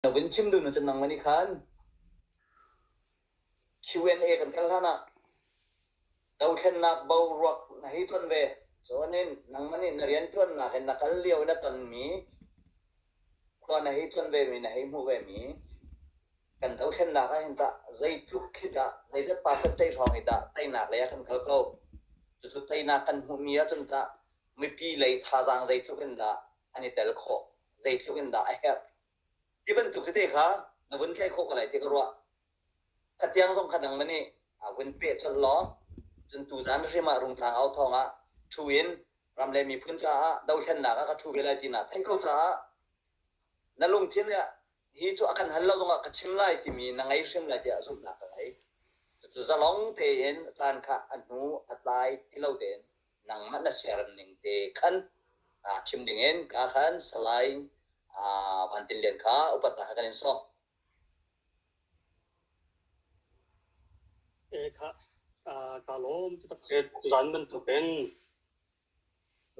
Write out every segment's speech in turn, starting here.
Na vun chim dun cun nangmah nih khan Q&A kan kal hlan ah dothlennak boruak na hei ton ve cun in nangmah nih na rianṭuannak in na kal lio i na tonmi khua na hei ton ve mi na hei hmuh ve mi kan dothlennak ah hin tah zeitluk khi dah zeizat pasat tei hrawng i dah teinak lei ah kan kal ko cucu teinak kan hmuhmi ah cun tah mipi lei thazaang zeitluk in dah an i tel khawh zeitluk in dah a herh Ti bantuk tete kha na vun tlaih khawh ko lai ti ka ruah. Atiang zong kha nang le nih a vun peh colh law cun tuzan hrim ah rungtlang au thawng ah ṭhu in ram le miphun caah dohthlennak ah ka ṭhu ve lai ti naa theih ko caah na lungthin ah hi cu a kan hal lo zongah ka chim lai timi na ngei hrim lai tiah zumhnak ka ngei. Cucu zalong tein caan kha a hnu a tlai ti lo tein nangmah na ser ning te khan chim dingin ka khan salai van tin lian kha upat na kan in sawm e kha ka lom tuan bantuk in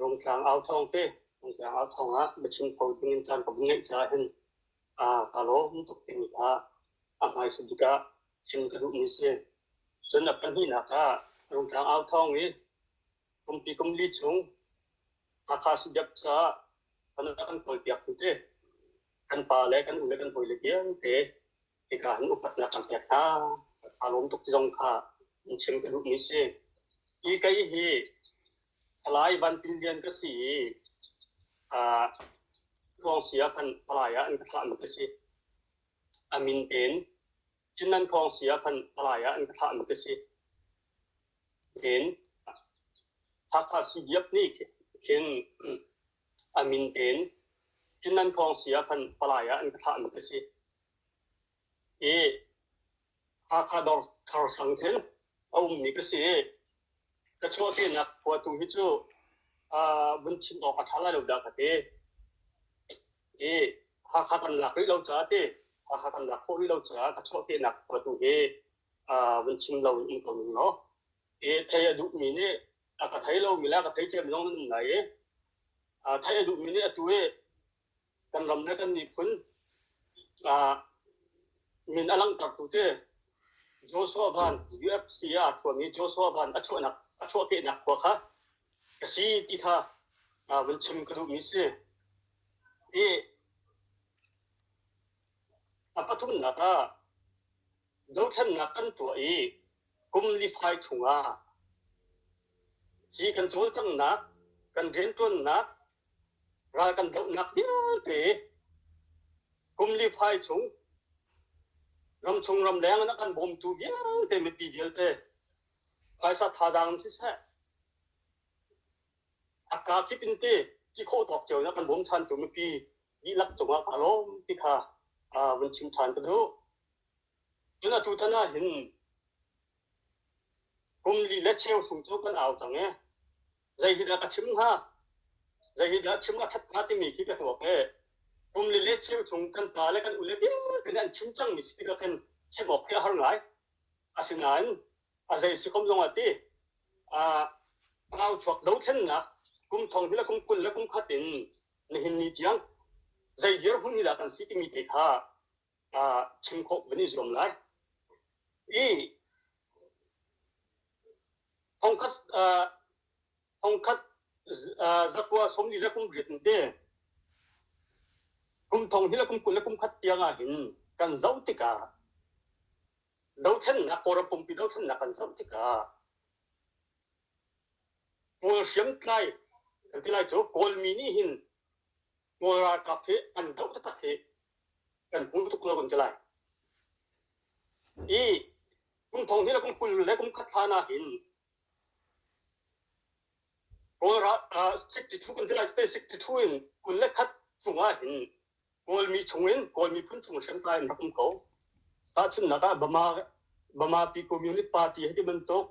rungtlang au thong te rungtlang au thong ah bachim kho dingin chan ka vung ngeih cha hin ka lom tuk tin kha a hmai suduka thil ka duhmi si. Cun a pahnihnak ah Rungtlang au thawng i kumpi kumli chung Hakha Subiak caah kan kan kawlpiak tu te kan pa le kan u le kan hawi le vialte hika han upatnak kan pek hna a lawm tuk zong kha in chim ka duhmi si i kei hi Thalai Van Tin Lian ka si i uh, Tluang sia khan palai ah an ka thlah mi ka si A min tein cu nan thawng si ah khan palai ah an ka thlahmi ka si. Tiin Hakha CDF nih khin a min tein cu nan thawng si ah khan palai ah an ka thlahmi ka si. I Hakha Dawr Sang khin a ummi ka si i ka chuahpinak khua tu hi cu vun chim awk a ṭha lai lo dah ka ti. I Hakha kan lak rih lo caah ti Hakha kan lak khawh rih lo caah ka chuahpinak khua tu hi vun chim lo in um ko ning law i theih a duhmi nih a ka thei lomi le a ka thei cem zong an um lai i theih a duhmi nih atu i kan ram le kan miphun min a langhtertu te Joshua Van UFC ah a chuahmi Joshua Van a chuahnak a chuahkehnak khua kha ka si ti kha vun chim ka duhmi si. I a pathumnak ah dothlennak kan tuah i kum lifai chungah hi kan cawlcanghnak kan riantuannak Ral kan dohnak vialte kum li fai chung ramchung ramleng in a kan bawmtu vialte mipi vialte phaisa thazaang in siseh a kaa kip in te ti khawh tawk cio in a kan bawm thantu mipi dihlak cungah kaa lawm ti kha uh, vun chim than ka duh. Cun atu tan ah hin kum li le cheu chung cu kan au cang e. Zeihidah ka chim hnga? Zeihidah chim a ṭhat hnga timi khi ka tuak i kum li le cheu chung kan pa le kan ule vialte nih an chim cangmi si tikah khin chim awk khi a har ngai. Asinain a zei si khom zongah ti au chuak dothlennak kum thong hi le kum kul le kum khat in nihin ni tiang zei dirhmun hi dah kan si timi te kha chim khawh kan i zuam lai. I thongkhat thongkhat zakua somli le kum riat te kum thong hi le kum kul le kum khat tiang ah hin kan zoh tikah dothlennak kawlram pumpi dothlennak kan zoh tikah pawl hriamtlai kan ti lai cu kawlmi nih hin Kawl ralkap hi an doh taktak hi kan hmu tuk lo kan ti lai. I kum thong hnih le kum kul le kum khat hlan ah hin Kawl ralkap 62 kan ti lai te 62 in kul le khat chung ah hin Kawlmi chung in Kawlmi phun chung hriamtlai in rak um ko. Tahchunhnak ah Bama Bama Pi Communist Party hei ti bantuk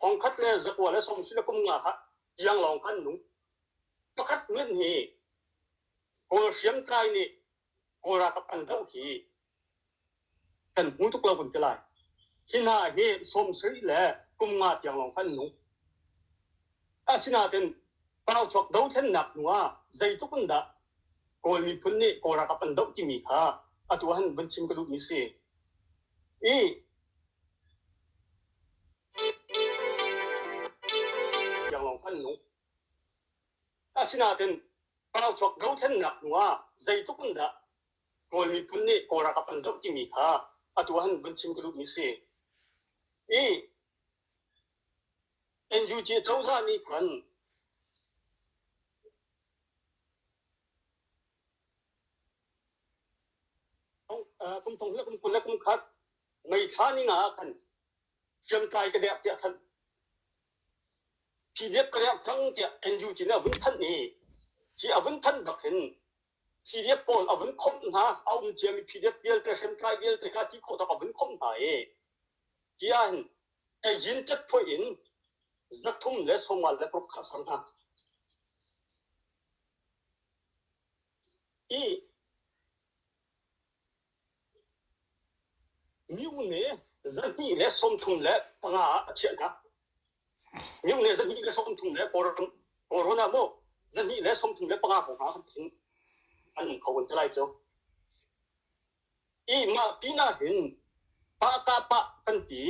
thongkhat le zakua le somsi le kum nga kha tiang lawng khan nung pakhat ngan hi kawl hriamtlai nih kawl ralkap an doh hi kan hmu tuk lo kun ke lai hi hna hi somsri le kum nga tiang lawng khan nung asinaten pau chok do thlen nak nuwa zeitukun dah kawl miphun nih kawl ralkap an doh timi kha atu han van chim ka duh mi si i Asinain pauchuak dothlennak hnuah zeitluk in dah Kawl miphun nih Kawl ralkap an doh timi kha atu ah hin vun chim ka duhmi a si. I NUG cozah nih khan kum thong le kum kul le kum khat meithla ning ah khan hriamtlai ka dek tiah thanh PDF ka dek chang tiah NUG nih a vun thanh i hi a vun thanh bak hin PDF pawl a vun khomh hna a um ciami PDF vialte hriamtlai vialte ka ti khawh tak a vun khomh hna i hi ah hin yin tet phoi in zathum le soma le paruk kha sang hna i Myung le zahnih le sawmthum le panga ah a chiah hna. Myung le zahnih le sawmthum le corona maw zahnih le sawmthum le panga hrawng ah hin an um kho an ti lai cu. I mah pinah hin pa ka pa kan ti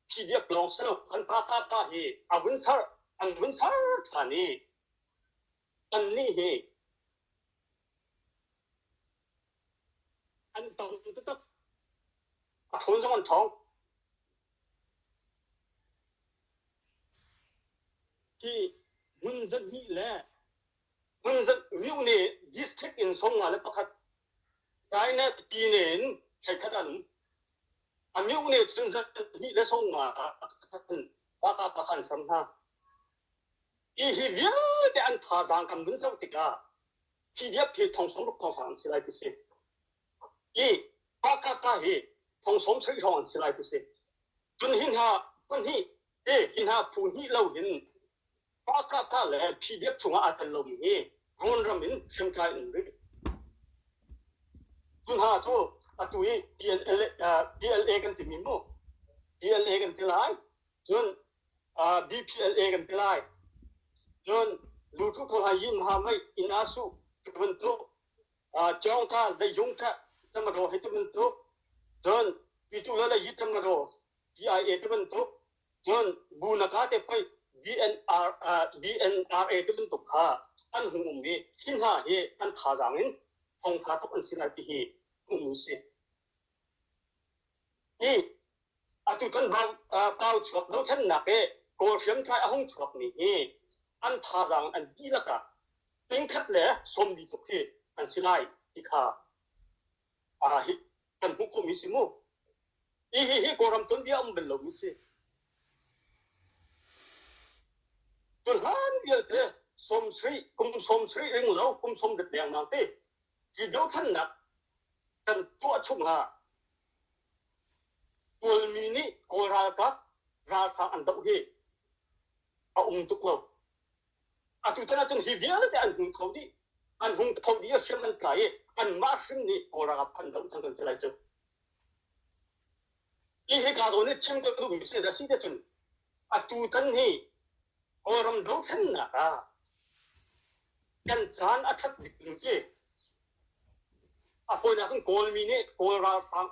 PDF lawng si lo kan pa ka pa hi a vun sar an vun sar than i Annih hi an tang taktak. A ṭhul zong an ṭhawng. Hi hmun zarhnih le hmun zarhnih nih district in sawmnga le pakhat, China Pyine in thleikhat an um. A mioh nih cun zarhnih le sawmnga ah pakhat, pakhat an sam hna. Hihi vialte an thazaang kan vun zoh tikah CDF hi thongsawm tuk thawnghrang an si lai ti si. I Hakaka hi thongsawm soi hrawng an si lai ti si. Cun hi hna pahnih te hi hna phu hnih lo in Hakaka le PDF chungah aa tel lomi hi Rawn ram in hriamtlai in rih. Cu hna cu atu i PLA, PLA kan timi mu. PLA kan ti lai. Cun BPLA kan ti lai. Cun lutu pawl hna yin ha mei inn ah suh ti bantuk cawng kha zeizung kha tamadaw hei ti bantuk cun pitu le le yi tamadaw PIA ti bantuk cun bu naka te phoi BNRA ti bantuk kha an hung um i hi hna hi an thazaang in thong kha thok an si lai ti hi hung um si. Hi Atu kan pau chuak dohthlennak i Kawl hriamtlai a hung chuakmi hi an thazaang an dihlak ah tingkhat le sawmli tluk hi an si lai ti kha hi kan hmuh khawhmi si mu. Hi hi hi Kawlram tuanbia um bel lomi si. Cu hlan vialte sawm sri, kum sawm sri ring lo, kum sawm dep leng nang ti Hi dothlannak kan tuah chung ah Kawlmi nih Kawl ralkap ralhrang an doh hi a um tuk lo. Atutan ahcun hi vialete an hung kho dih, an hung kho dih i hriam an tla i anmah hrim nih Kawl ralkap an doh cang kan ti lai cu. Hi hika zawn i chim ka duhmi si a si te cun atutan hi Kawlram dothlennak ah kan caan a ṭhat bik ding khi a fawinak in Kawlmi nih Kawl ralhrang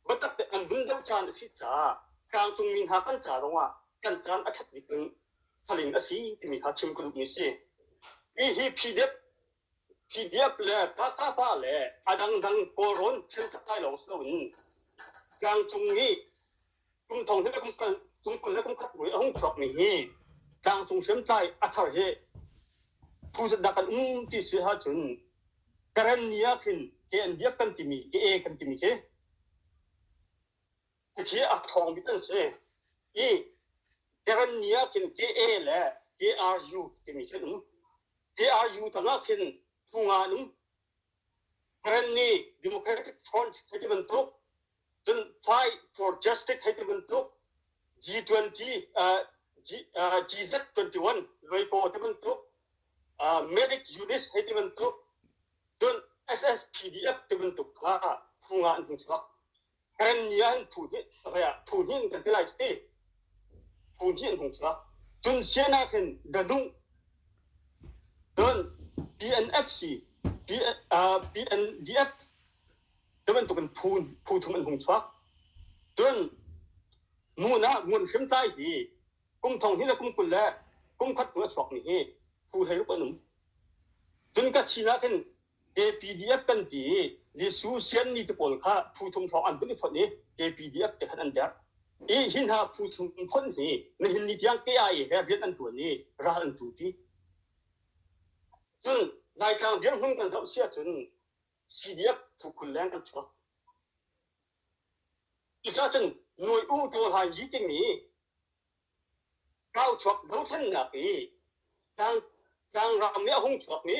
biatak tein an hun doh caan a si caah tlangcungmi hna kan ca zongah kan caan a ṭhat bik in salin a si timi kha chim ka duhmi a si. Hi hi PDF Iap le Takapa le a dangdang kawlrawn thil thatai lawng si loin tlangcung i kum thong he le kum kul, kum kul le kum khat mui a hung chuakmi hi tlangcung hriamtlai a thar hi phu zat dah kan um ti si ahcun Karen ni ah khin KNDF kan timi, ka-A kan timi khi Hihi a ṭhawng bik an si i Karenni ah khin Ka le Ka-u timi khi an um. Ka-u tangah khin Phunga an um. Karenni Democratic Front hei ti bantuk, cun Fight for Justice hei ti bantuk, G20, uh, G, uh, GZ21 Luipaw ti bantuk, uh, Medic Units hei ti bantuk, cun SSPDF ti bantuk kha Phunga an hung chuak. Kan ni ah hin phu hnih phu hnih kan ti lai ti phu hnih an hung chuak cun sian ah khin danuh cun PNFC PNDF tu bantukin phu phu thum an hung chuak cun mun ah ngun hrim tlai hi kum thong hi le kum kul le kum khat tu a chuak mi hi phu hlei ruk an um cun ka chin ah khin KPDF kan ti i Jesuh sianmi te pawl kha phu thum hrawng an vun i fonh i KPDF te khan an derh. I hi hna phu thum fonh hi nihin ni tiang KIA he rian an ṭuan i ral an ṭuṭi. Cun Laitlang dirhmun kan zoh si ahcun CDF phu kul leng an chuak. Cucacun Nuai U Ṭaw Hlain Yi timi Kauchuak dothlennak i tlangram nih a hung chuakmi,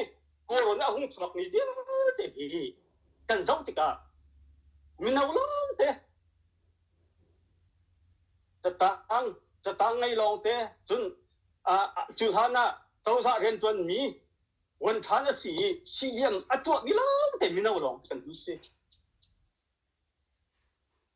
kawrawn nih a hung chuakmi vialte hi kan zoh tikah mino lawngte, catang catang ngei lawngte, cun cu hlan ah cozah rianṭuanmi vuanṭhan a si i sihliam a tuahmi lawngte mino lawngte kan um si.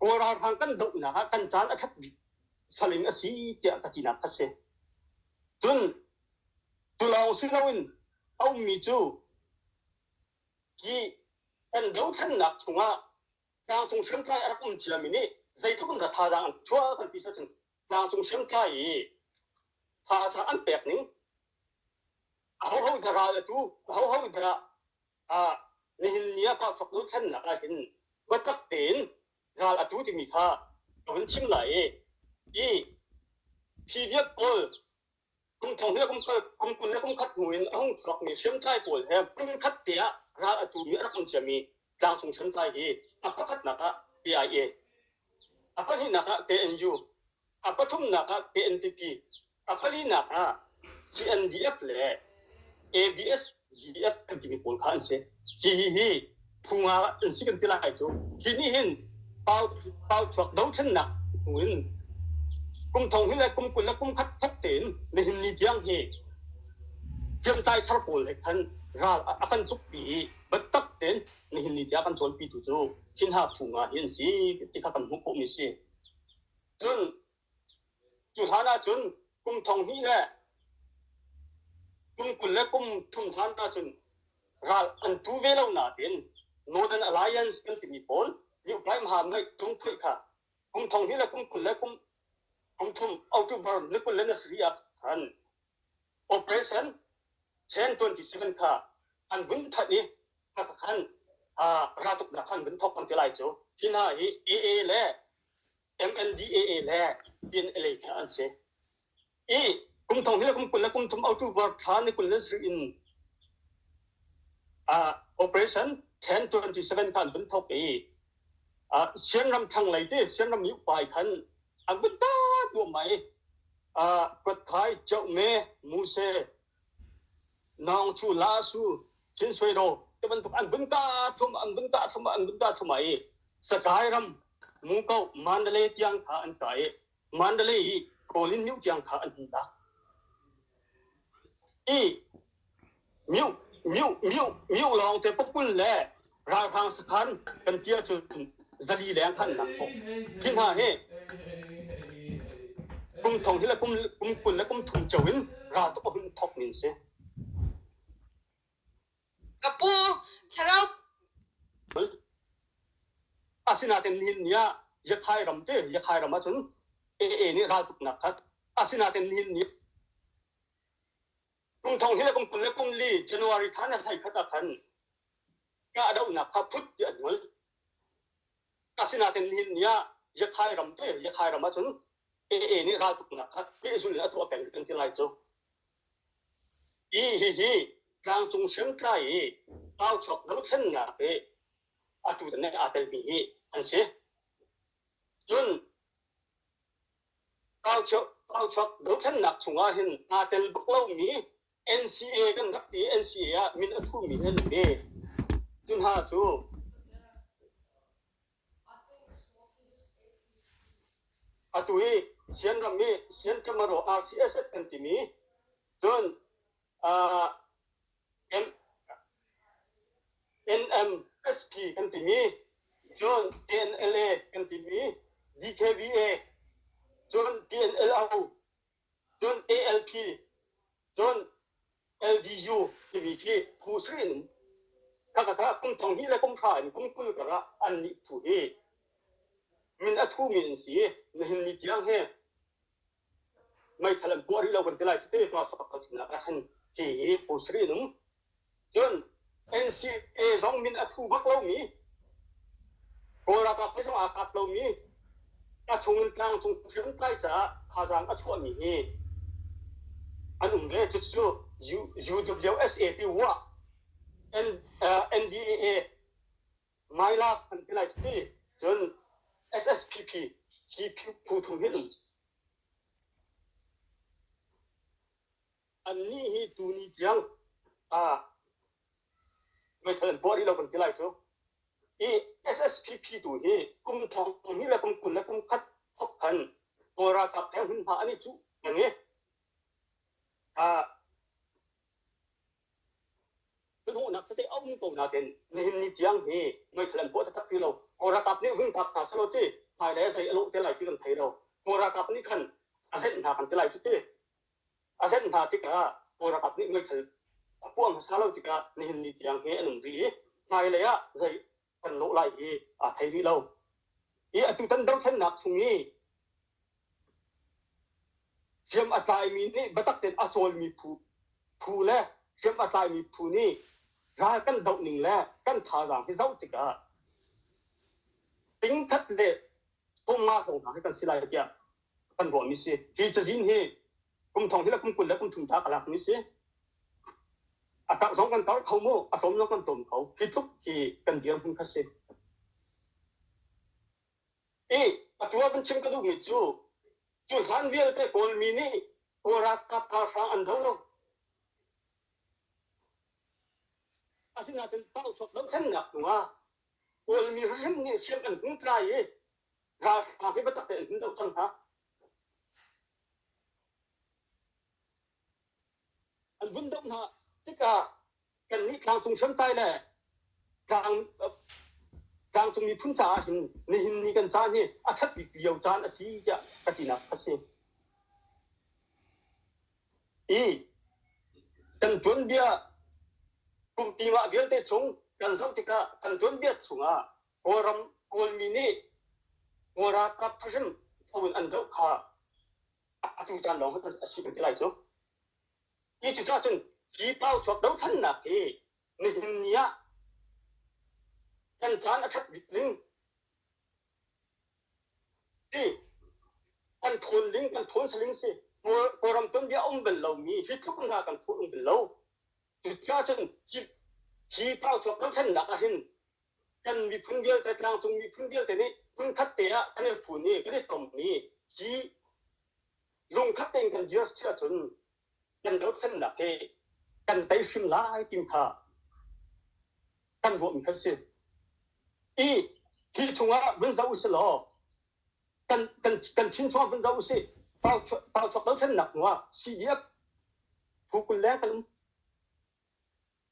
Kawl ralhrang kan dohnak ah kan caan a ṭhat bik saling a si tiah ka tinak kha si. Cun cu lawng si loin a ummi cu hi kan dothlennak chungah tlangcung hriamtlai a rak um ciami nih zeitluk in dah thazaang an chuah kan ti ahcun tlangcung hriamtlai i thazaang an pek ning ahoho in dah ral a tu ahoho in dah Nihin ni ah Pakfaknu thlennak ah hin biatak tein ral a tu timi kha ka vun chim lai i hi PDF pawl kum thong le kum kul kum kul le kum khat hnu in a hung chuakmi hriamtlai pawl he kum khat te ah ral a tumi a rak um ciami tlangcung hriamtlai hi a pakhatnak ah KIA, a pahnihnak ah KNU, a pathumnak ah KNPP, A palinak ah CNDF le ADSDF kan timi pawl kha an si. Hihihi phung ah an si kan ti lai cu. Hi nih hin pau chuak dothlennak hnu in kum thong hi le kum kul le kum khat khat tein nihin ni tiang hi hriamtlai thar pawl le khan ral a kan tukpi i biatak tein nihin ni tiang kan cawnpitu cu hinha phung ah hi an si ti kha kan hmuh khawhmi si. Cun Cu hlan ahcun kum thong hnih le kum kul le kum thum hlan ahcun ral an tu ve lo nain Northern Alliance kan timi pawl Ibrahim Han ngaihtung phoih kha kum thong hnih le kum kul le kum kum thum October ni kul le nasarih ah khan Operation Chain 27 kha an vun thanh i kha khan raltuknak khan vun thawk kan ti lai cu hi hna hi AA le MNDAA le PNLA hna an si. I kum thong hi le kum kul le kum thum autu board thla ni kul le sarih in uh, operation 1027 kan vun thok i uh, sianram thang lei te sianram ni upai khan an vun ta tua mai uh, kwat khai chau me muse Naung cu la su thil soi do te bantuk an vun ta thum an vun ta thum an vun ta thum ai sakai ram muko mandale tiang kha an kai mandale hi kawlin miu tiang kha an hun ta i miu miu miu miu lawng te pukul le ralhrang sakhan kan tia cun zali leng khan nak thawk hi hna hi kum thong hi le kum kum kul le kum thum cho in ra tuk a hun thok nin si kapu thlarau asinaten nihin nia yakhai ram te yakhai ram acun AA nih ral tuk nak khat asinaten nihin nia Kum thong hin a kum kul le kum li January thla na thai khat ah khan kahdohnak kha phut ti an ngol. Asinain nihin ni ah Yakhai ram te Yakhai ram ahcun AA nih raltuknak kha pehzul in a tuah peng kan ti lai cu. Hi hihi tlangcung hriamtlai i tauchuak dothlennak i atu ne aa telmi hi an si. Cun kauchuak dothlennak chungah hin aa tel bak lomi NCA kan rak ti NCA ah min a thumi hin a ni. Cu hna cu atu i Sian ram i Sian Kamaro RCSS kan timi cun NMSP kan timi, cun TNLA kan timi, DKVA, cun TNLO, cun ALP, cun LDU timi khi phu srin in kakata kum thong hi le kum hra in kum kul kar ah an nih thu hi min a thu mi an si. Nihin ni tiang he meithal an kuah rih lo kan ti lai cuti pa kha pakhatinnak ah khan ti hi phu sarih nung cun NCA zong min a thu bak lomi Kawl ralkap zong aa kap lomi a chung in tlang cung hriam tlai caah thazaang a chuahmi hi an um ve cucu UWSA ti wah NDAA ngai la an ti lai ti cun SSPP hi phu thum hin annih hi tuni tiang ah meithal an puah rih lo kan ti lai cu i SSPP tu hi kum thong hnih le kum kul le kum khat thok khan kawl ralkap theng hin hma an i cuh nang i Hnuhnak tete a um ko nakin nihin ni tiang hi meithal an puah taktak ti lo. Kawl ralkap nih vun phak hna selaw ti hmailei a zei a lawh te lai ti kan thei lo. Kawl ralkap nih khan a zenh hna kan ti lai cu ti. A zenh hna tikah Kawl ralkap nih meithal a puah hmasa lo tikah nihin ni tiang hi an um rih i hmailei ah zei kan lawh lai hi a thei rih lo. I atutan dothlennak chung i hriam a tlaimi nih biatak tein a cawlmi phu phu le hriam a tlaimi phu nih ral kan doh ning le kan thazaang hi zoh tikah tingkhat le chomnga zong hna hi kan si lai tiah ka kan ruahmi si hi cazin hi kum thong hi la kum kul le kum thum ta ka lakmi si a karh zong kan karh kho mu a tlawm zong kan tlawm kho hi tluk hi kan dir hmun kha si i atuwa kan chim ka duhmi cu cu hlan vialte kawlmi nih kuarakap ralhrang an do asinain tau chok lo thannak hnungah kawlmi hrim nih hriam an hung tlai i Ralhrang hi biatak tein hmun a kang hna. An vun domh hna. Tikah kannih tlangcung hriamtlai le tlang tlangcung miphun caah hin nihin ni kan caan hi a ṭhat bik lio caan a si tiah ka tinak a si. I kan tuanbia kum pingah vialte chung kan zoh tikah kan tuanbia chungah Kawlram Kawlmi nih Kawl ralkap thahrim tho in an doh kha atu caan lawng hmanh a si kan ti lai cu. Hi cucah cun hi pau chuak dohthlannak hi nihin ni ah kan caan a ṭhat bik ning hi kan ṭhawn ling kan ṭhawn saling si. Kawlram tuanbia a um bal lomi hi tluk hna kan ṭhawn um bal lo. Cucah cun hi hi pau chuak dohthlannak ahhin kan miphun vialte, tlangcung miphun vialte nih phun te ah kan i fun i kan i tom mi hi lungkhat tein kan dir si ahcun kan dothlennak hi kan tei hrim lai ti kha kan ruahmi kan si. I hi chungah vun zoh usih law kan kan kan chinchuang vun zoh usih pau chuak dothlennak nuah CDF phu kul leng kan um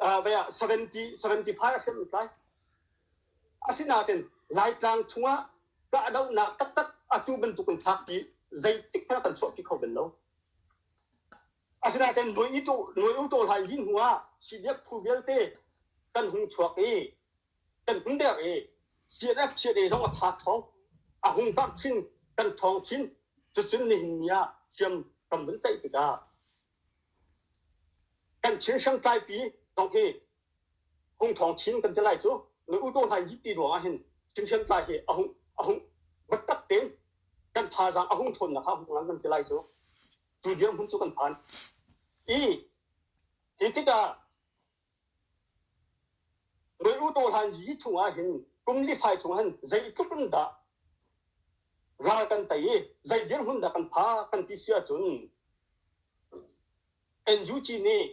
75 hrimrit lai. Asinain Laitlang chungah kahdohnak taktak atu bantuk kan fakpi zeitik hmanh kan chuahpi kho bel lo. Asinain nuai u ṭawl hai lin hnu ah CDF phu vialte kan hung chuak i kan hung der i CNF chiat e zong a tha ṭhawng a hung karh chin kan ṭhawng chin cucun nihin ni ah hriam kan vun tlaih tikah Kan Chin hriamtlaipi Dohmi Hung Thawng Chin kan ti lai cu na U Daw Hlain Yihpi ruangah hin Chin hriamtlai hi a hung a hung battak tein kan thazaang a hung ṭhawnnak kha hung lang kan ti lai cu cu dirhmun cu kan phan. I hi tikah Reru dawhhlan yi chungah hin kum lifai chungah hin zeitluk in dah ral kan tei i zei dirhmun dah kan phak kan ti si ahcun NUG nih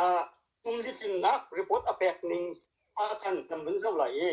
ah kum litlinnak report a pek ning ah khan kan vun zoh lai i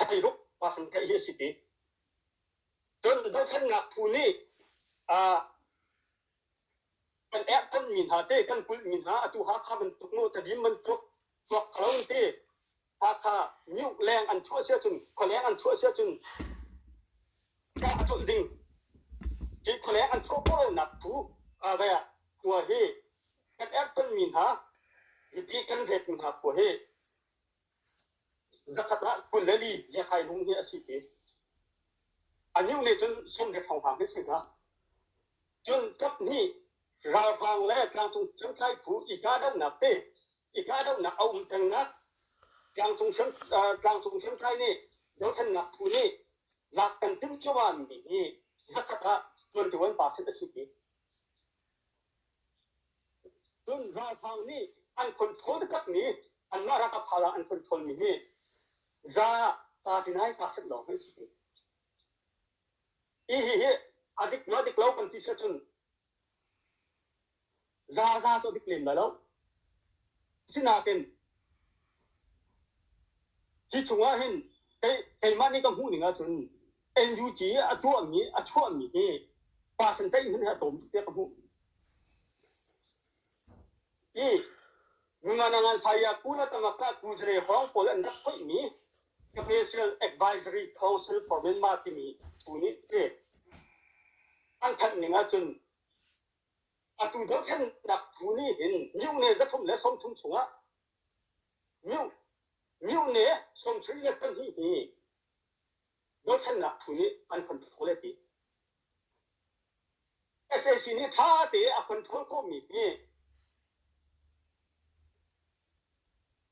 a theiruk pasan theih hi a si ti. Cun dothlennak phu nih kan erh tonmi hna te, kan kulhmi hna atu Hakha bantuk nu tadim bantuk chuak khalo te Hakha miuk leng an chuah sia cun khualeng an chuah sia cun ka a cawlh ding hi khualeng an chuah khawhlonak phu ve khua hi kan erh tonmi hna hi ti kan retmi hna khua hi Zakhat ah kul le li ngiakhairung hi a si te. A niu nih cun som he thawnghrang hi si dah. Cun kap hnih ralhrang le tlangcung hriamtlai phu i kahdohnak te i kahdohnak a um pengnak tlangcung hriam uh, tlangcung hriamtlai nih dothlennak phu nih lak kan timh cio ah mi hi zakhat ah tuantu an pa sin a si ti. Cun ralhrang nih an phunphun taktakmi anmah ralkap thazaang an phunphunmi hi za ta ti nai ta set lawng hi a si pi. Hi hi a dik maw dik lo kan ti si ahcun za za cu a dik lem lai lo. Asinain hi chungah hin keimah nih ka hmuh ning ahcun NUG a tuahmi a chuahmi hi percentage hmanh hi a tlawm tuk tiah ka hmuh. I ngungan ngan saya kula tangah ka tu zare hawng pawl an rak hoihmi Special Advisory Council for Myanmar timi tu nih te an thanh ning ahcun atu dothlennak tu nih hin miu ne zathum le sawmthum chungah miu miu ne sawmsarih le pahnih hi bochannak phu nih an control a ti. SAC nih ṭha tein a control khawhmi hi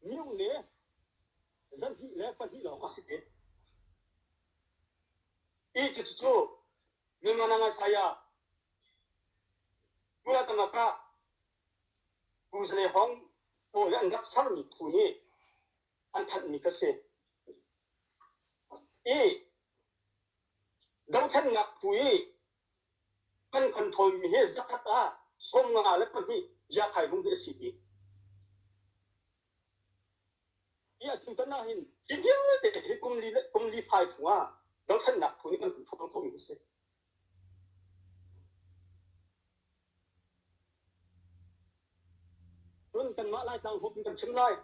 minung le zarhnih le pahnih lawng a si ti. Hi cucu Nilmanang Isaiah pura tangak ah Buzle hong pawl an rak sermi phu nih an thanhmi ka si. I dothlennak phu i kan kan thawimi hi zakhat ah sawmnga le pahnih yakhai vung hi a si ti. Hi a thil tan ahhin hi vialte hi kum li le kum li fai chungah dothlennak phu nih kan kan thawng khomi a si. Cun kanmah Laitlang hup in kan chim lai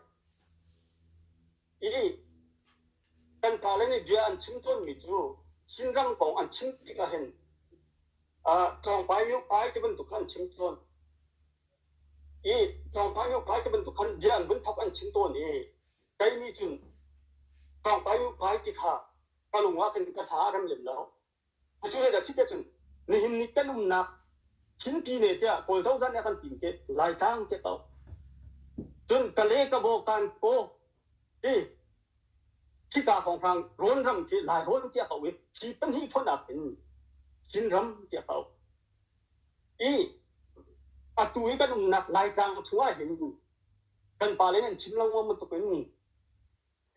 i kan pale nih bia an chim tawnmi cu Chinram kong an chim tikah hin Tlawngpai Myopai ti bantuk kha an chim tawn i Tlawngpai Myopai ti bantuk khan bia an vun thap an chim tawn i kei nih cun Tlawngpai Myopai ti kha ka lung ah khin ka hna a rem lem lo. Cucu hei dah si te cun, nihin ni kan umnak Chinpine tiah Kawl cozah nih a kan tim khi Laitlang tiah ko. Cun Kale, Kabaw, Kankaw hi khika hrawnghrang rawnram khi Lairawn tiah ko i hi pahnih fonak in Chinram tiah ko. I atu i kan umnak Laitlang chung ah hin kan pale nih an chim lengmang bantuk in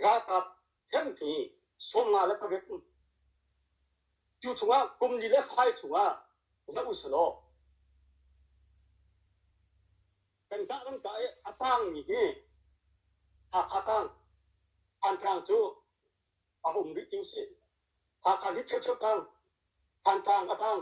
ralkap khen khi sawmnga le pavek cu chungah kum li le fai chungah za u selaw kan ka kan ka a tang mi hi Hakha tang Thantlang cu a hum rih ti u si Hakha hi cheu cheu tang Thantlang a tang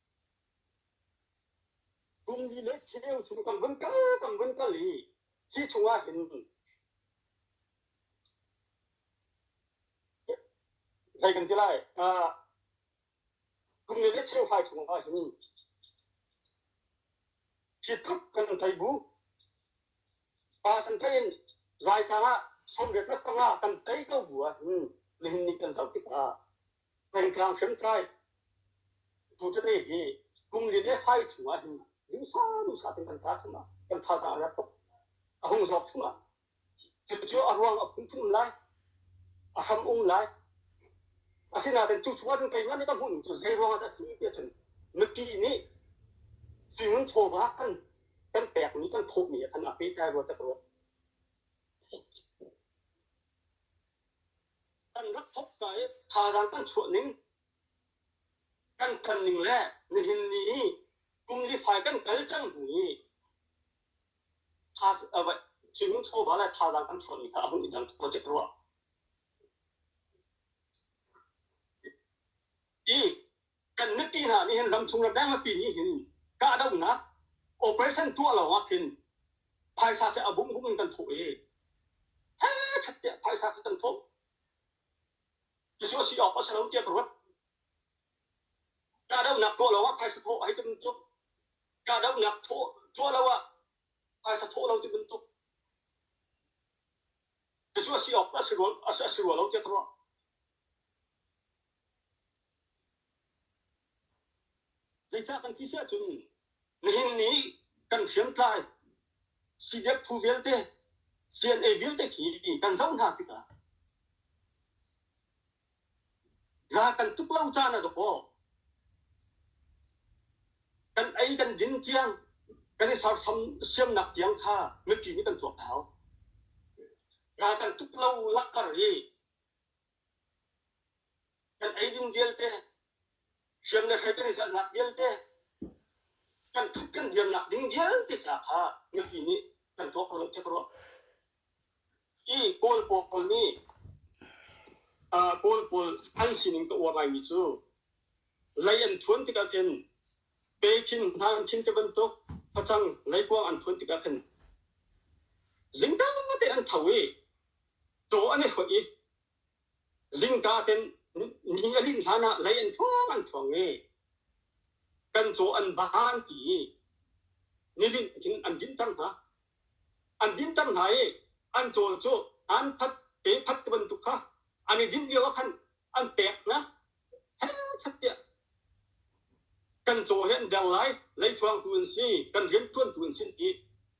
Kum li le khi lio cu kan van kal, kan van kal i hi chungah hin zei kan ti lai, uh, kum li le cheu fai chungah hin hi tluk kan thei bu. Pa san theiin raitang ah sawmriat rak panga kan tei ko bu ah hin nihin ni kan zoh tikah Thantlang hriamtlai tutete hi kum li le fai chungah hin dusa dusa tin kan tha chungah kan thazaang a rat tuk a hung zawk chungah cucu a ruang a phunphun lai a hram ung lai asinain cu chungah cun keimah nih ka hmuh ning cu zei ruangah dah a si tiah cun mipi nih sui chawva kan kan pekmi kan thawhmi ah khan a pehtlai rua tak rua Kan rak thawkka i thazaang kan chuahning, kan ṭanning le nihin ni i kum li fai kan kal cang hnu i swimming chawva le thazaang kan chuahmi kha a hung i dang tuk ko tiah ka ruah. I kan mipi hna nih hin ramchung ramdang mipi nih hin kahdohnak operation tuah lawngah khin phaisa khi a bumh bumh in kan thawh i hechet tiah phaisa khi kan thawh cucu a si awk a si lo tiah ka ruat kahdohnak tuah lawngah phaisa thawh hei ti bantuk kahdohnak thawh tuah lo ah phaisa thawh lo ti bantuk cucu a si awk a si rua a si rua lo tiah ka ruah Zeicah kan ti si ahcun nihin ni kan hriamtlai CDF phu vialte CNA vialte khi kan zoh hna tikah ral kan tuk lo caan ah dawh kan ei kan din tiang kan i sersiamnak tiang kha mipi nih kan tuak hau. Ral kan tuk lo langhter i kan eidin vialte, hriam le hlei kan i zalhnak vialte, kan thup kan diamnak ding vialte ca kha mipi nih kan tuah ko loh ka ruah. Hi Kawl pawl nih uh, Kawl pawl an sining ka uar ngaimi cu lei an thuan tikah khin pe khin hnan khin te bantuk facang leikuang an thuan tikah khin zingka te an tho i Caw an i hoih i zingka ten ni a linh hlan ah lei an thuang an thuang i kan caw an ban ti i nilinh in an dinter hna. An dinter hna i an cawl cu an phat pe phat ti bantuk kha an i din lio ah khan an pek hna hel that tiah kan caw hi an der lai lei thuangtu an si kan rianṭuantu an si an ti.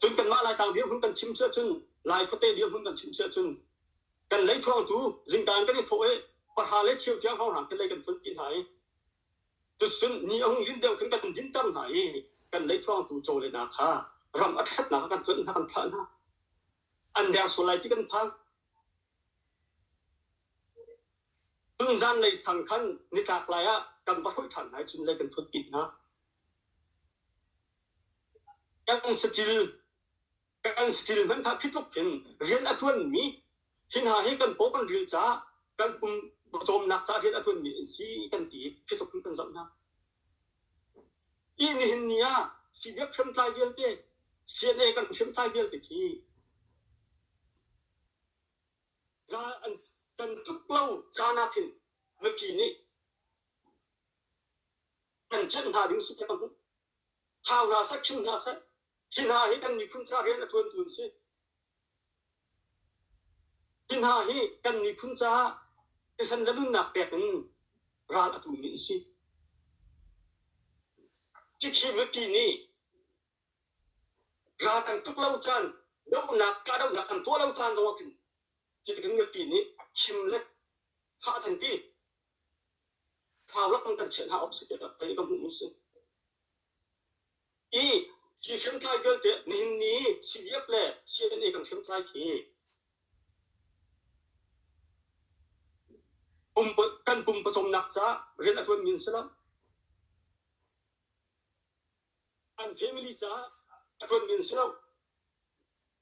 Cun kanmah Laitlang dirhmun kan chim si ahcun, Lai khuate dirhmun kan chim si ahcun, kan lei thuangtu zingka in kan i thawh i pahra le cheu tiang hrawnghraang khin lei kan phun pi hna i tucun ni a hung linh deuh khin kan dinter hna i kan lei thuangtu caw le hna kha ram a ṭhatnak ah kan tuanh hna kan thlah hna an der sual lai ti kan phang tun zan lei sang khan nitlak lai ah kan va hruih ṭhan hna i cun lei kan phun pi hna Kan saṭil kan saṭil hmanhah khi tluk hin rian a ṭuanmi hi hna hi kan paw kan ril caah kan pum pawcawmnak caah rian a ṭuanmi an si kan ti i khi tluk hin kan zoh hna. Ih nihin ni ah CDF hriamtlai vialte CNA kan hriamtlai vialte khi ral an kan tuk lo caan ah khin mipi nih kan cenh hna ding si ti ka hmuh. Thau hna seh, thil hna seh, hi hna hi kan miphun ca rian a ṭuantu an si. Hi hna hi kan miphun caah thisen le nunnak pek in ral a tumi an si. Tikhi mipi nih ral an tuk lo caan, dohnak, kahdohnak an tuah lo caan zong ah khin, hi tikin mipi nih him le thah an ti. Thangak kan kan chenh hna awk si te pei ka hmuh si. I hi hriamtlai vialte nihin ni CDF le CNA kan hriamtlai khi pum kan pum pawcawmnak ca rian a ṭuan min si lo. An family ca a ṭuan min si lo.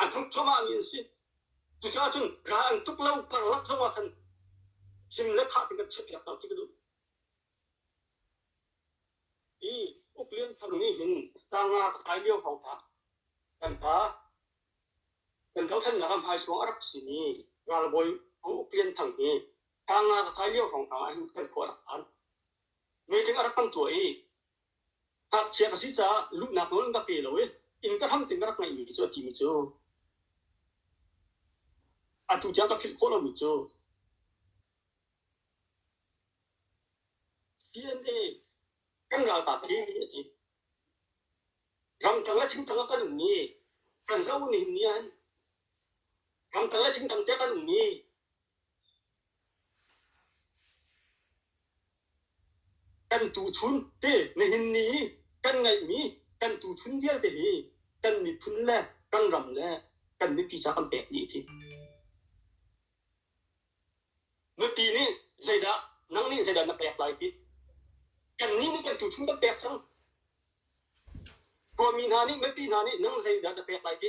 a tuk chomahmi an si. Cucaah cun ka an tuk lo karlak zongah khan him le thah ti kan chiahpiak lo ti ka duh. I Uk Lian Thang nih hin tangah ka kai lio hong tah kan pa kan dothlennak ah hmaisuang a rak simi ralbawi Uk Lian Thang hi tangah ka kai lio hong tang ah hin kan khua a rak phan. Meeting a rak kan tuah i Ngakchia ka si caah luhnak nawl in ka pe lo i inn ka hram tiin ka rak ngaihmi khi cu a timi cu atu tiang ka philh khawh lomi cu CNA kan ralkap hi ni a ti. Ramtang le chingtang ah kan ummi kan zoh nih ni ah hin ramtang le chingtang tiah kan ummi Kan tuchun te nihin ni hi kan ngeihmi kan tuchun vialte hi kan miphun le kan ram le kan mipi caah kan pek dih a ti. Nupi nih zeidah nang nih zeidah na pek lai ti kannih nih kan tuchun kan pek cang. Kawmi hna nih mipi hna nih nang zeidah na pek lai ti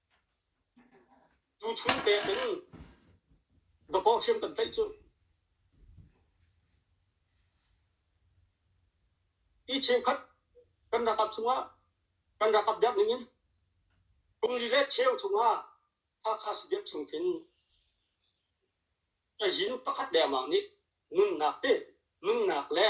Tuchun pek in dawpaw hriam kan tlaih cuh. Hi cheukhat kan rakap chungah kan rakap diak ning in kungli le cheu chungah Hakha Subiak chung khin a yin pakhat dengmang nih nunnak te nunnak le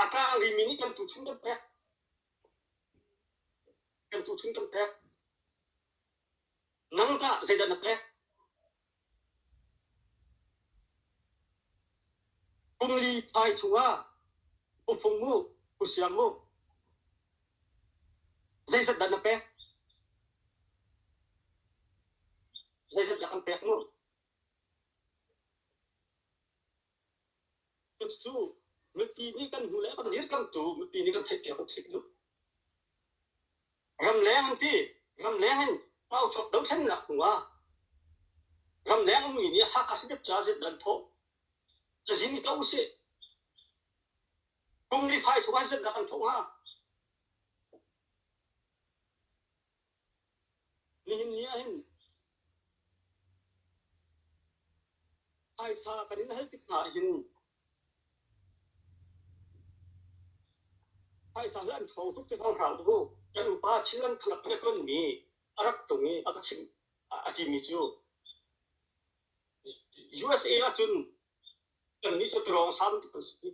A tlang rimi nih kan tuchun kan pek. Kan tuchun kan pek. Nangtah zeidah na pek? Kum li thai chungah pufung mu, pusiang mu. Zeizat dah na pek? Zeizat dah kan pek mu? Cucu mipi nih kan hnu le kan dirkamhtu mipi nih kan theihpiak a phit duh. Ramleng an ti. Ramleng in pauchawt dothlennak hnu ah ramleng ummi nih Hakha State ca zit an thawh. Cazin i to usih. Kum li fai chung an zit dak an thawh hnga. Nihin ni ahhin phaisa kan in hal tik hna ahhin phaisa hi an ṭhawng tuk ti hmang hna u. Kan upa Chinland Club he tonmi a rak tlung i a ka chimh a timi cu USA ahcun kannih cu drawngsam tuk kan si.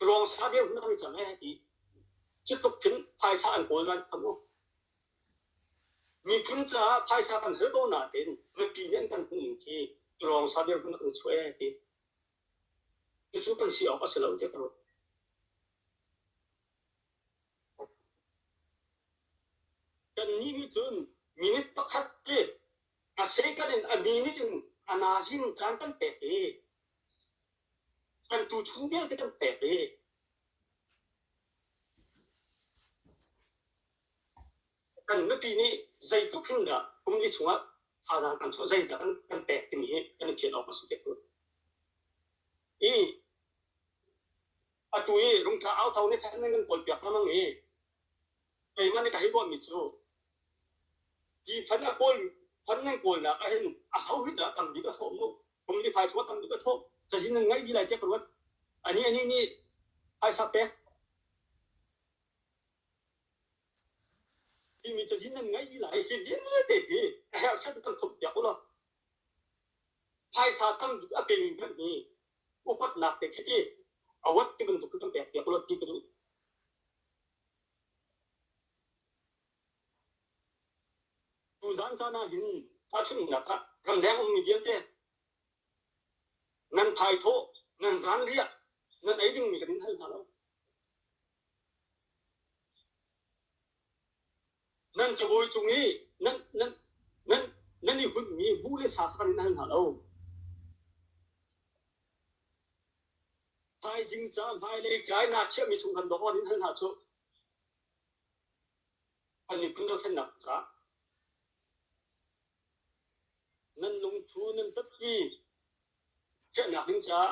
Ruangsa dirhmun an i cang ee ti. Cu tluk khin phaisa an kawl nain khan u. Miphun caah phaisa kan hal ko nain mipi nih an kan hmuhning khi ruangsa dirhmun an chuah ee ti. Cucu kan si awk a si lo tiah ka ruat. Kannih nih cun minute pakhat hi a second in a minute in a nazing caan kan pek i An tuchun vialte kan pek i kan nupi nih zeitluk hin dah kum li chungah thazaang kan chuah, zeidah kan pek timi hi kan i fian awk a si te khun. I atu i rungtla au thau ne than nan kan kawl piak hammang i keimah nih ka hei ruahmi cu ti fan a kawl fan nan kawlnak ahhin a ho hi dah tam bik a thawh mu? Kum li phaisa tam tuk ka thawh. Cazin nan ngaih dih lai tiah ka ruat. Anih anih nih phaisa pek timi cazin nan ngaih dih lai. Hi din vialte hi herhset kan thawk piak u law phaisa tam tuk a peng hmanmi upatnak te khi ti awat ti bantuk kan pek piak u law ti ka duh. Cu zan caan ahhin tahchunhnak ah ramleng ummi vialte nan thaithawh, nan zanriah, nan ei dingmi kan in hal hna lo. Nan cabawi cung i nan, nan, nan, nan i hunmi bu le sa kha kan in hal hna lo. Thaizing ca, hmailei ca i naa chiahmi chung khan dawt in hal hna cu. An i khuhlonak ca nan lungthu nan tatpi fiahnak ding caah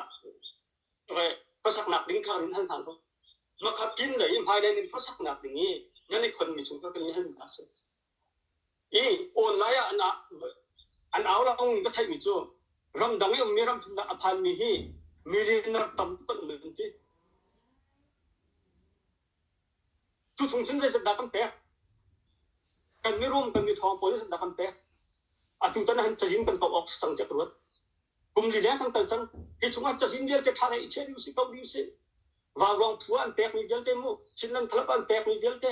khuasaknak ding kha run hal hna law makhatin lei i hmailei nan khuasaknak ding i nan i khonmi cung kha kan i hal hna seh. I online ah an au langmi ka theihmi cu ramdang i ummi ramthum a phanmi hi millionaire tam tuk an um an ti. Cu chung cun zeisetdah kan pek? Kan mirum kan mithawng pawl zeisetdah kan pek? Atu tan han cazin kan kauh awk si cang tiah ka ruat. Kum li leng kan kal cang. Hi chungah cazin vialte ṭha lei i chiah ding si, kauh ding si. Vauruang phu an pekmi vialte mu, Chinland Club an pekmi vialte,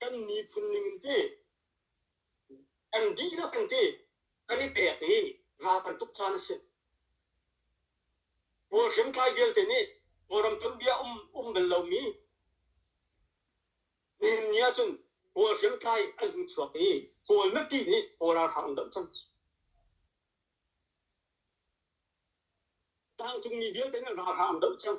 kan miphun ning in ti an dihlak in ti kan i pek i ra kan tuk caan a si. Kawl hrimtlai vialte nih Kawlram tonbia um um bal lomi nihin ni ahcun Kawl hrimtlai an hung chuak i Kawl mipi nih Kawl ralhrang an doh cang. Tlangcungmi vialte nih ralhrang an doh cang.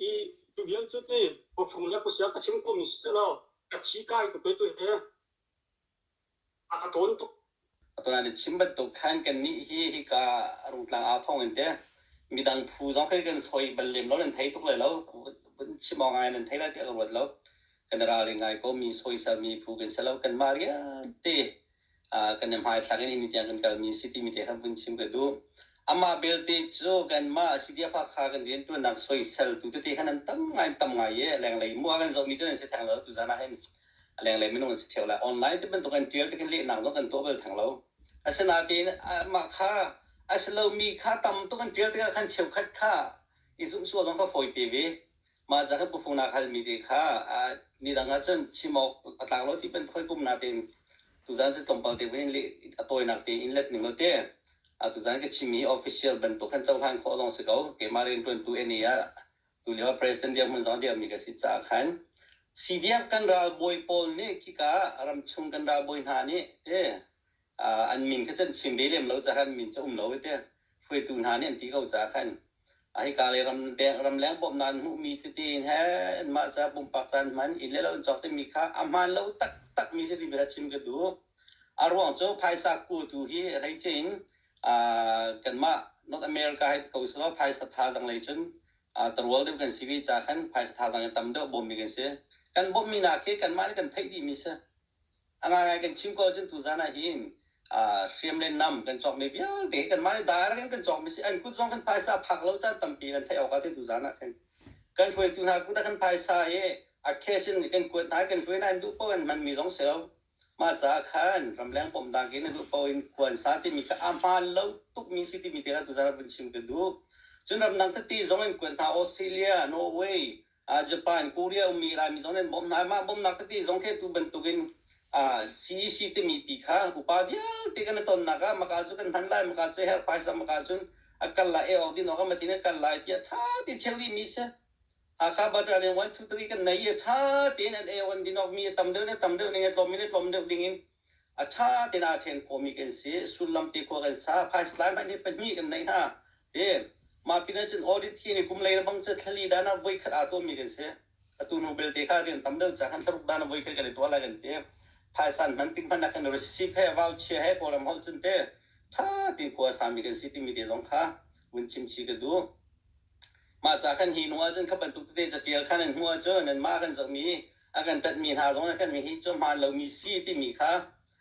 Hi cu vialte hi khuachung le khuasik a chim khomi sisehlaw ka thi kai tuk hoi tu hi a ka thawn tuk. Atuan in chim bantuk khan kannih hi hika rungtlang au thawng in te midang phu zong khi kan soi bal lem lo nan thei tuk lai lo vun chim awk ngai nan thei lai tiah ka ruat lo kan i ralring ngai ko mi soisel mi phu kan si lo kan mah rialte kan i hmaithlak in imi tiang kan kalmi si timi te kha vun chim ka duh amah belte cu kanmah a si ti fakha kan riantuannak soiseltu tete khan an tam ngai tam ngai i lenglei mu a kan zohmi cu an si theng lo tu zan ah hin lenglei minung an si theo lai online ti bantuk an tial te khan lehnak zong kan tuah bal theng lo asinain mah kha a si lomi kha tam tuk an tial tikah khan cheukhat kha i zumhsuah zong kha fawi te ve mah za kan pufung nak halmi te kha midang ahcun chim awk a tlak lo ti bantuk kum na tein tuzan se tlawmpal te hin a tawinak te in let ning lo te a tuzan ka chimi official bantuk kan cohlan khawh lawng si ko keimah rian tuantu eni ah tu lio president dirk mun zong dirmi ka si caah khan CDF kan ralbawi pawl nih khika ram chung kan ralbawi hna nih te an min kha can chim ve lem lo caah min cu um lo i teh hruaitu hna nih an ti ko caah khan a hika lei ram ramleng bawmhnak an hmuhmi tete in he anmah ca pumpak caan hman inn le lo an cawk timi kha a hmaan lo taktakmi si ti bia chim ka duh a ruang cu phaisa kuatu hi hleice in kanmah north america hai ko si lo phaisa thazang lei cun tarual deuh kan si ve ca khan phaisa thazang i tam deuh bawmmi kan si kan bawmhmi hna khi kanmah nih kan theih dihmi si A ngaingai kan chim ko ahcun tuzan ah hin hriam le nam kan cawkmi vialte kanmah nih daar kan kan cawkmi si an kut zong kan phaisa phak lo caan tampi in an theih awk ah ti tuzan ah khin kan hruaitu hna kut ah kan phaisa i a khesin kan kuat hna kan hluai nain duh paoh in manmi zong si lo mah caah khan ramleng pom dang in duh paoh in kuansa timi kha a hmaan lo tukmi si timi te kha tuzan ah vun chim kan duh cun ramdang tete zong in kuat hna Australia Norway Japan, Korea ummi Laimi zong nih an bawmh hna. Mah bawmhnak ati zong khi atu bantukin CEC timi pi kha upa vialte kan i tonnak ah maka cu kan hman lai, maka cu herh phaisa maka cun a kal lai, ei awk din awk a matin a kal lai tiah ṭha tein chel dihmi a si. Hakha Battalion one, two, three kan nei i ṭha tein an ei awk an din awk mi a tam deuh in a tam deuh ning a tlawm in a tlawm deuh ding in A ṭha tein aa ṭhen khawhmi kan si. Sullam te khua kan sa. Phais lai hmanh nih pahnih kan neih hna. Ti mah pinah cun audit hi ni kum lei le bang cu thlali dan ah voikhat aa tuahmi kan si. Atu nu belte kha rian tam deuh cang. Kan tlaruk dan ah voikhat kan i tuah lai kan ti. Phaisan hman tik hmanh ah kan receipt he voucher he kawlram holh cun te ṭha tein khua sami kan si timi te zong kha vun chimci ka duh. Mah ca kan hi hnu ahcun kha bantuk tete catial kha nan hmuh ahcun nanmah kan zohmi a kan tanhmi hna zong nih kan hihi cu hmaan lomi si timi kha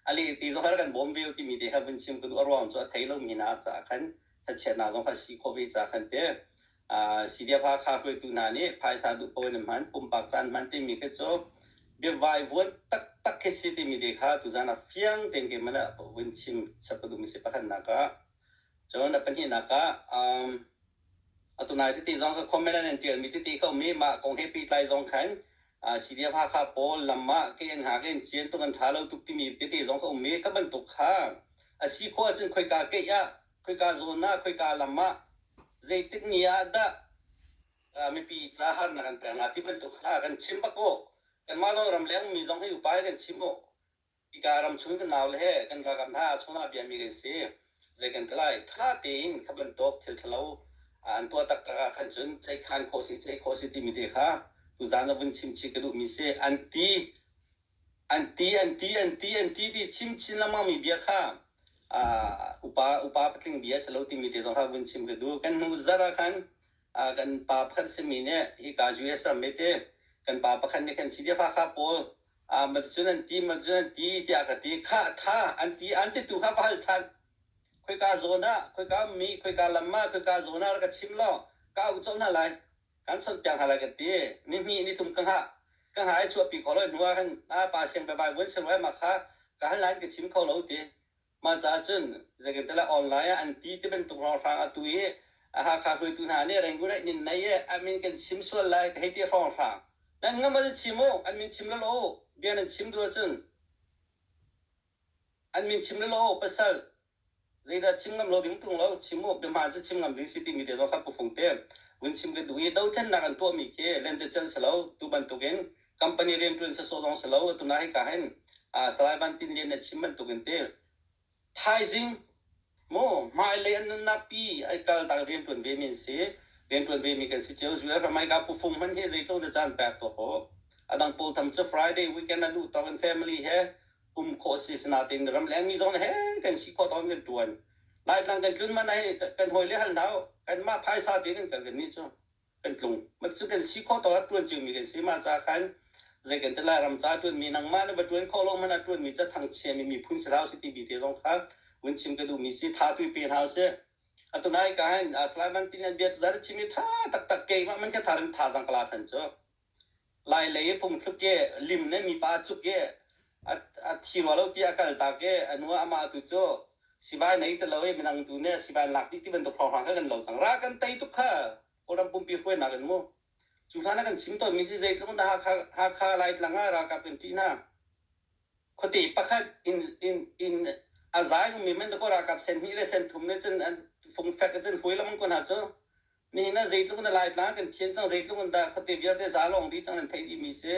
a leh ti zong har kan bawm ve timi te kha vun chim ka duh a ruang cu a thei lomi hna caah khan thachiat hna zong kha si khawh ve ca khan te CDF Hakha hruaitu hna nih phaisa duh paoh in an hman pumpak caan hman timi khi cu biavai vuan taktak khi si timi te kha tuzan ah fiang tein keimah ah vun chim chap ka duhmi si pakhatnak ah cun a pahnihnak ah um, Atunai titi zong ka comment an tialmi titi khomi mah kong he pehtlai zong khan CDF Hakha pawl lam ah KN ha ka in cian tuk an ṭha lo tuk timi tete zong ka um i ka bantuk kha a si khawh ahcun khoika keih ah khoika zawn ah khoika lam ah zeitik ni ah dah mipi ca harnak an pek hnga ti bantuk kha kan chim bak u kanmah lawng ram leng ummi zong hi upa hi kan chim u Hika ramchung kan naule he kan ralkap hna ahcun ah biami kan si. Zei kan ti lai, ttha tein kha bantuk thil ṭhalo an tuah taktak ah khan cun ceih tthan khawh si, ceih khawh si timi te kha tuzaan a vun chimchih ka duhmi si. An ti, an ti, an ti, an ti, an ti ti chim chin lengmangmi bia kha aa, upa upa patling bia si lo timi te zong kha vun chim ka duh. Kan hnu zarh ah khan aa, kan pa pakhat simi nih hika US ram mete kan pa pakhat nih khan Sidifa kha pawl Macun an ti, macun an ti tiah ka ti. Khah ṭha an ti, an ti tu kha va hal ṭhan. Khoika zawn ah, khoika mi, khoika lam ah, khoika zawn ah rak ka chim law ka ucawh hna lai, kan chawnh piak hna lai ka ti. Ni hnih, ni thum ka hngah. Ka hngah i chuahpi kho lo hnuah khan pa siangpabai vuan sen ruai ma kha ka hal nain ka chim kho lo ti. Mah caah cun zeicahtiah online ah an ti ti bantuk hrawnghrang a tu i a Hakha hruaitu hna nih Rangoon inn nai i an min kan chim sual lai ka hei ti hrawnghrang nan ngamal chim u an min chim lo lo bia nan chim duh ahcun an min chim lo lo pasal zeidah chim ngam lo ding tung lo chim u biahmaan cu chim ngam ding si timi te zong kha pu fung te vun chim ka duh i dothlennak an tuahmi khi lentecelh si lo tu bantukin company rian ṭuan sasawh zong si lo atunak hika hin Salai Van Tin Lian nih a chim bantukin ti thaizing maw hmailei an nunnak pi ai kaltak rian ṭuan ve mi an si rian ṭuan ve mi kan si cio US ramai ka pu Fung hman hi zeitluk na caan pek tuah ko adang pawl tham cu Friday weekend a luh tawk in family he um khawh si sinatin ram leng mi zong he kan si khawh tawk kan ṭuan Laitlang kan tlun man hi kan hoi le hal hau kan mah phaisa te kan kal kan ni cu kan tlung cu kan si kho to a tuan cio mi kan si ma ca khan zei kan te lai ram ca tuan mi nangmah le va tuan kho lo man a tuan mi ca thangchia mi miphun si hau si ti bi te zong kha vun chim ka duh mi si tha tui pe hna se atu nai ka hin aslai man tin an biat zar chimi tha tak tak ke ma man kha tharin tha zang kala than chu lai lei phungthluk ke lim ne mipa cuk ke a thi rua lo ti a kal ta ke anu amah tu cu sibai nei te lo i minang tu ne sibai lak ti ti bantuk hrawng hrawng kha kan lo cang ra kan tei tuk kha kawlram pumpi hruai nak in mu cu hlan kan chim tawn mi si zei tlung da hakha hakha lai tlang a ra kap kan ti na khote pakhat in in in a zai mi men ko ra kap sen hi le sen thum ne cun an fung fek cun hui lam kun ha cu Nihin ah zeitluk in a Laitlang kan thian cang, zeitluk in dah khuate vialte zalawng dih cang nan theih dih mi si.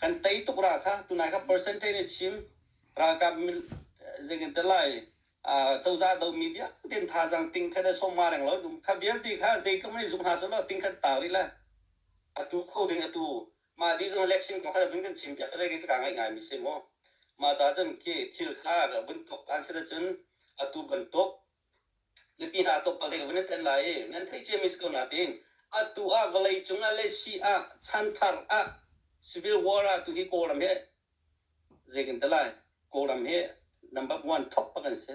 Kan tei tuk ra kha, tunai kha percentage in chim, ralkap mil, zeitin lai, cozah do mi vialte in thazang tingkhat a sawm ma reng lo dum. Kha vialte kha zeitluk in zuk hna sawh law tingkhat ta rih le atu kho ding atu mah di zong election kong kha vun kan chim piak re ka ngai ngai mi si maw. Mah ca cun khi thil kha vun tok an si da cun atu bantuk Mipi hna thawngpang te van tet lai i nan theih cia mi si ko nain atu ah vawlei cung ah le si ah chanthar ah civil war ah tu hi Kawlram hi zei kan tel lai Kawlram hi number one top pak an si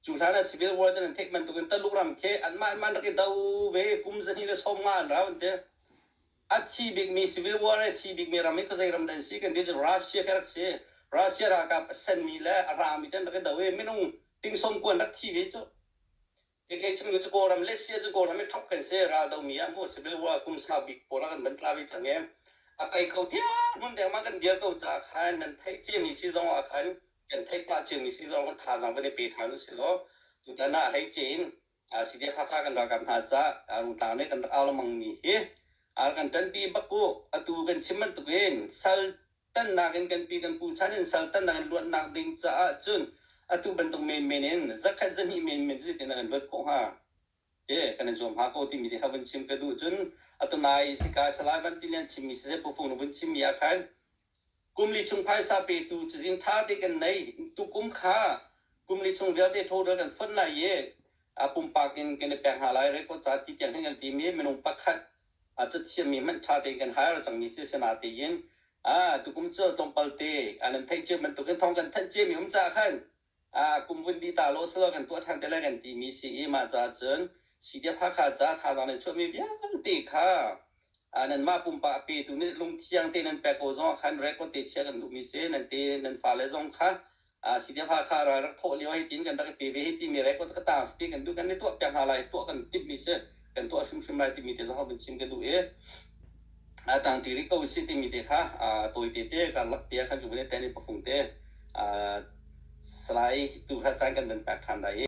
cu hlan ah civil war cun an theih bantuk in Taluk ram khi an mah man rak i do ve kum zahnih le sawm nga an rau an ti a thi bikmi civil war i a thi bikmi ram hi ka zei ram dah an si kan ti cun Russia khi a rak si Russia ralkap a senmi le a rami ten rak i do i minung tingsawm kuan rak thi ve cu Ikhe chungin cu Kawlram le Sia cu Kawlram i thop kan si ral domi ah mu civil war kum sau bik pawl a kan ban tla ve cang e a kai ko diar hmun dek ma kan diar ko caah khan nan thei ciami si zong ah khan kan thei pah ciami si zong thazaang van i pe ṭhan u si law tutan ah hei cin CDF Hakha kan ralkap hna ca rungtlang le kan rak au lengmang mi hi kan ṭanpi bak u atu kan chim bantuk in sal tannak in kan pi kan pu chan in sal tannak in luatnak ding caah cun atu bantuk menmen in zakhat zahnih menmen cu tinak in luat khawh hnga ti kan in zuam hnga ko timi ti vun chim ka duh cun atu nai sika salai van tilian chimmi si se pufung vun chimmi ah khan kum li chung phaisa petu cazin ṭha te kan nei tukum kha kum li chung vialte total kan fonh lai i a pumpak in kan i pek hna lai record ca ti tiang hin kan timi minung pakhat a cathiammi hmanh ṭha tein kan hal cangmi si sina tein a tukum cu tlawmpal te an an theih cio bantukin thawng kan thanh ciami um caah khan Ah, kum vun di ta lo silo kan tuah ṭhan te le kan timi si i mah caah cun CDF Hakha caah thazaang le chuahmi vialte kha ah, nanmah pumpak a petu nih lungthiang te nan pek ko zongah khan record te chia kan duhmi si. Nan te nan fale zong kha ah, CDF Hakha ral rak thawh lio hei tiin kan rak i pe ve hei timi record ka tang si kan duh kan i tuah piak hna lai tuah kan timhmi si. kan tuah hrimhrim lai timi te kha vun chim ka duh i a tang ti rih ko si timi te kha a tawite te karlak te khan kan vale tani pafung te salai tu kha caan kan van pek than dai